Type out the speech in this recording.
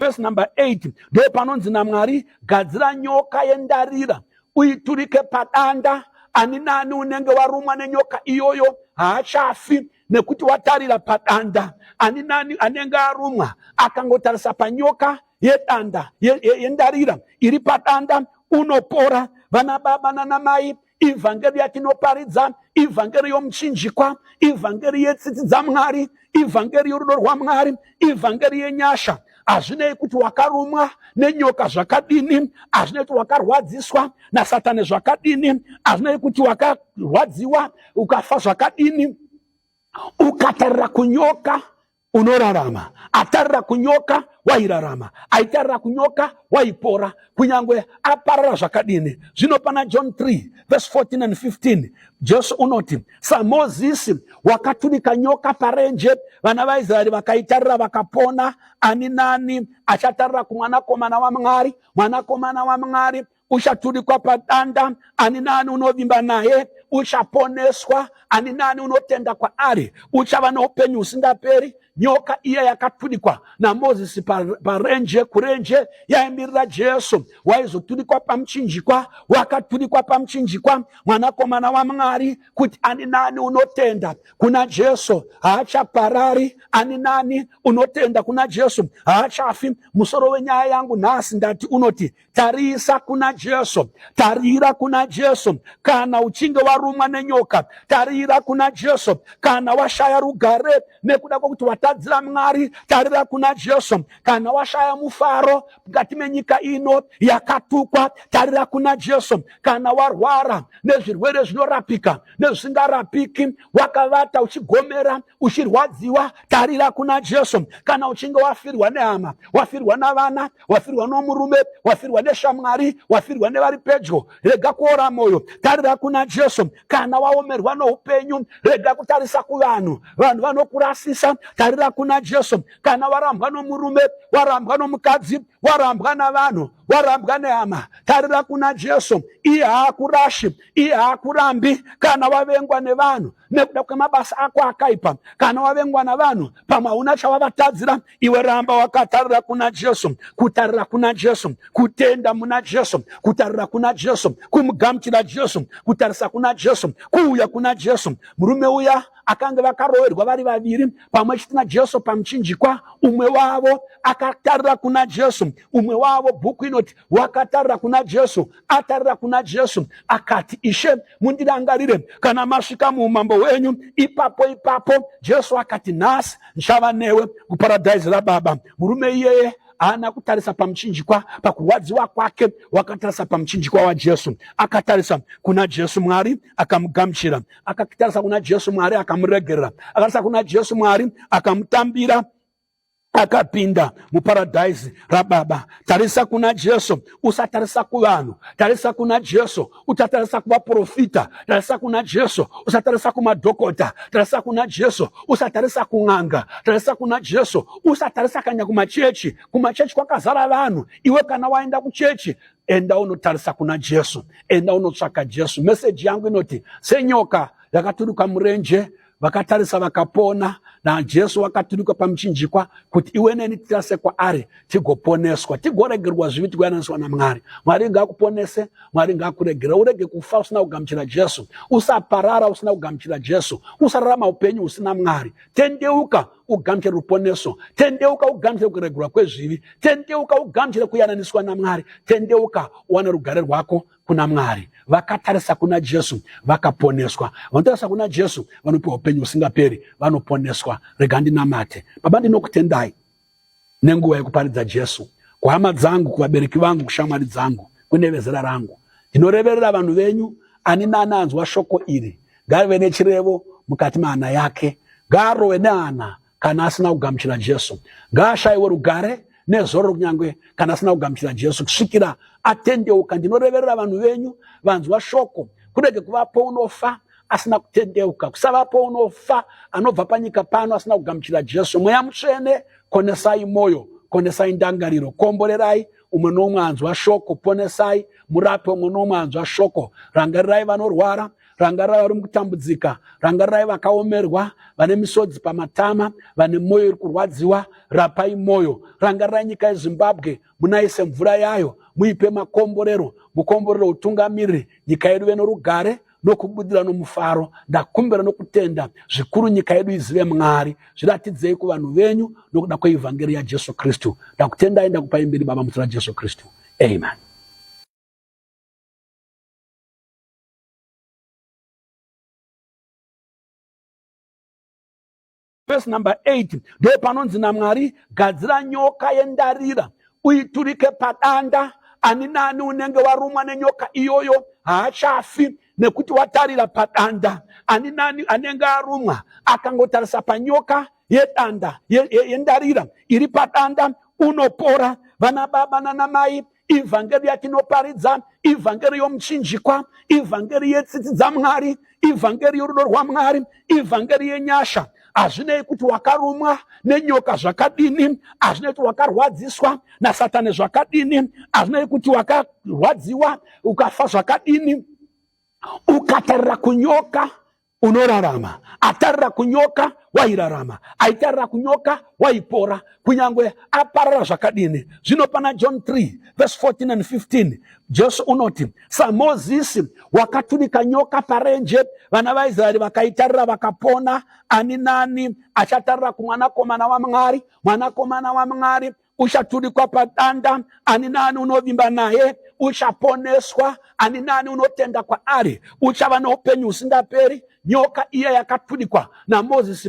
vhesi number 8 ndopanonzi namwari gadzira nyoka yendarira uiturike padanda ani nani unenge warumwa nenyoka iyoyo haachafi nekuti watarira padanda ani nani anenge arumwa akangotarisa panyoka yedanda yendarira ye, ye iri padanda unopora vana baba nanamai ivhangeri yatinoparidza ivhangeri yomuchinjikwa ivhangeri yetsitsi dzamwari ivhangeri yorudo rwamwari ivhangeri yenyasha hazvinei kuti wakarumwa nenyoka zvakadini hazvinei kuti wakarwadziswa nasatani zvakadini hazvinei kuti wakarwadziwa ukafa zvakadini ukatarira kunyoka unorarama atarira kunyoka wairarama aitarira kunyoka waipora kunyange aparara zvakadini zvino pana john 3 vese 14 and 15 jesu unoti samozisi wakatunika nyoka parenje vana vaisraeri vakaitarira vakapona ani nani achatarira kumwanakomana wamwari mwanakomana wamwari uchaturikwa padanda ani naani unovimba naye uchaponeswa ani naani unotenda kwaari uchava noupenyu husingaperi nyoka iya yakaturikwa namozisi parenje kurenje yaimirira jesu waizoturikwa pamuchinjikwa wakaturikwa pamuchinjikwa mwanakomana wamwari kuti ani nani unotenda kuna jesu haachaparari ani nani unotenda kuna jesu haachafi musoro wenyaya yangu nhasi ndati unoti Tarisa kuna Jesu, tarira kuna Jesu. Kana uchinge warumwa nenyoka, tarira kuna Jesu. Kana washaya rugare nekuda kwekuti watadzira Mwari, tarira kuna Jesu. Kana washaya mufaro mukati menyika ino yakatukwa, tarira kuna Jesu. Kana warwara nezvirwere zvinorapika nezvisingarapiki, wakavata uchigomera uchirwadziwa tarira kuna jesu kana uchinge wafirwa nehama wafirwa navana wafirwa nomurume wafirwa neshamwari wafirwa nevari pedyo rega kuora mwoyo tarira kuna jesu kana waomerwa noupenyu rega kutarisa kuvanhu vanhu vanokurasisa tarira kuna jesu kana warambwa nomurume warambwa nomukadzi warambwa navanhu warambwa nehama tarira kuna jesu iye haakurashi iye haakurambi kana wavengwa nevanhu nekuda kwemabasa ako akaipa. Kana wavengwa navanhu, pamwe hauna chawavatadzira. Iwe ramba wakatarira kuna Jesu, kutarira kuna Jesu, kutenda muna Jesu, kutarira kuna Jesu, kumugamuchira Jesu, kutarisa kuna Jesu, kuuya kuna Jesu. Murume uya akange vakaroverwa vari vaviri pamwe chete najesu pamuchinjikwa umwe wavo akatarira kuna jesu umwe wavo bhuku inoti wakatarira kuna jesu atarira kuna Jesu akati, Ishe, mundirangarire kana masvika muumambo hwenyu. Ipapo ipapo Jesu akati, nhasi ndichava newe kuparadhaisi raBaba. Murume iyeye haana kutarisa pamuchinjikwa pakurwadziwa kwake wakatarisa pamuchinjikwa wajesu akatarisa kuna jesu mwari akamugamuchira akatarisa kuna jesu mwari akamuregerera akatarisa kuna jesu mwari akamutambira akapinda muparadhaisi rababa tarisa kuna jesu usatarisa kuvanhu tarisa kuna jesu utatarisa kuvaprofita tarisa kuna jesu usatarisa kumadhokota tarisa kuna jesu usatarisa kun'anga tarisa kuna jesu usatarisa kanya kumachechi kumachechi kwakazara vanhu iwe kana waenda kuchechi enda unotarisa kuna jesu enda unotsvaka jesu meseji yangu inoti senyoka yakaturuka murenje vakatarisa vakapona najesu wakaturuka pamuchinjikwa kuti iwe neni tirase kwaari tigoponeswa tigoregerwa zvivi tigoyananiswa namwari mwari ngakuponese mwari ngakuregera urege kufa usina kugamuchira jesu usaparara usina kugamuchira jesu usararama upenyu usina mwari tendeuka ugamuchire ruponeso tendeuka ugamuchire kuregerwa kwezvivi tendeuka ugamuchire kuyananiswa namwari tendeuka uwane rugare rwako kuna Mwari, vakatarisa kuna Jesu vakaponeswa. Vanotarisa kuna Jesu vanopiwa upenyu husingaperi, vanoponeswa. Rega ndinamate. Baba, ndinokutendai nenguva yekuparidza Jesu kuhama dzangu, kuvabereki vangu, kushamwari dzangu, kune vezera rangu. Ndinoreverera vanhu venyu, ani nani anzwa shoko iri ngave nechirevo mukati mahana yake, ngaarove nehana kana asina kugamuchira Jesu. Ngaashaiwe rugare nezororo kunyange kana asina kugamuchira Jesu kusvikira atendeuka. Ndinoreverera vanhu venyu vanzwa shoko, kurege kuvapo unofa asina kutendeuka, kusavapo unofa anobva panyika pano asina kugamuchira Jesu. Mweya Mutsvene, konesai moyo, konesai ndangariro, komborerai umwe nomwe anzwa shoko, ponesai murape umwe nomwe anzwa shoko, rangarirai vanorwara, Rangarirai vari mukutambudzika, rangarirai vakaomerwa, vane misodzi pamatama, vane mwoyo iri kurwadziwa, rapai mwoyo. Rangarirai nyika yeZimbabwe, munaise mvura yayo, muipe makomborero, mukomborero utungamiriri nyika yedu veno rugare nokubudira nomufaro ndakumbira nokutenda zvikuru nyika yedu izive mwari zviratidzei kuvanhu venyu nokuda kweivhangeri yajesu kristu ndakutendai ndakupai mberi baba muzita rajesu kristu amen Verse number 8 ndipo panonzi naMwari, gadzira nyoka yendarira uiturike padanda. Ani naani unenge warumwa nenyoka iyoyo haachafi nekuti watarira padanda. Ani naani anenge arumwa akangotarisa panyoka yedanda yendarira iri padanda unopora. Vana baba nana mai ivhangeri yatinoparidza ivhangeri yomuchinjikwa ivhangeri yetsitsi dzamwari ivhangeri yorudo rwamwari ivhangeri yenyasha hazvinei kuti wakarumwa nenyoka zvakadini hazvinei kuti wakarwadziswa nasatani zvakadini hazvinei kuti wakarwadziwa ukafa zvakadini ukatarira kunyoka unorarama atarira kunyoka wairarama aitarira kunyoka waipora kunyange aparara zvakadini zvino pana john 3 vese 14 and 15 jesu unoti samozisi wakatunika nyoka parenje vana vaisraeri vakaitarira vakapona ani nani achatarira kumwanakomana wamwari mwanakomana wamwari uchaturikwa padanda ani naani unovimba naye uchaponeswa ani naani unotenda kwaari uchava noupenyu husingaperi nyoka iya yakaturikwa namozisi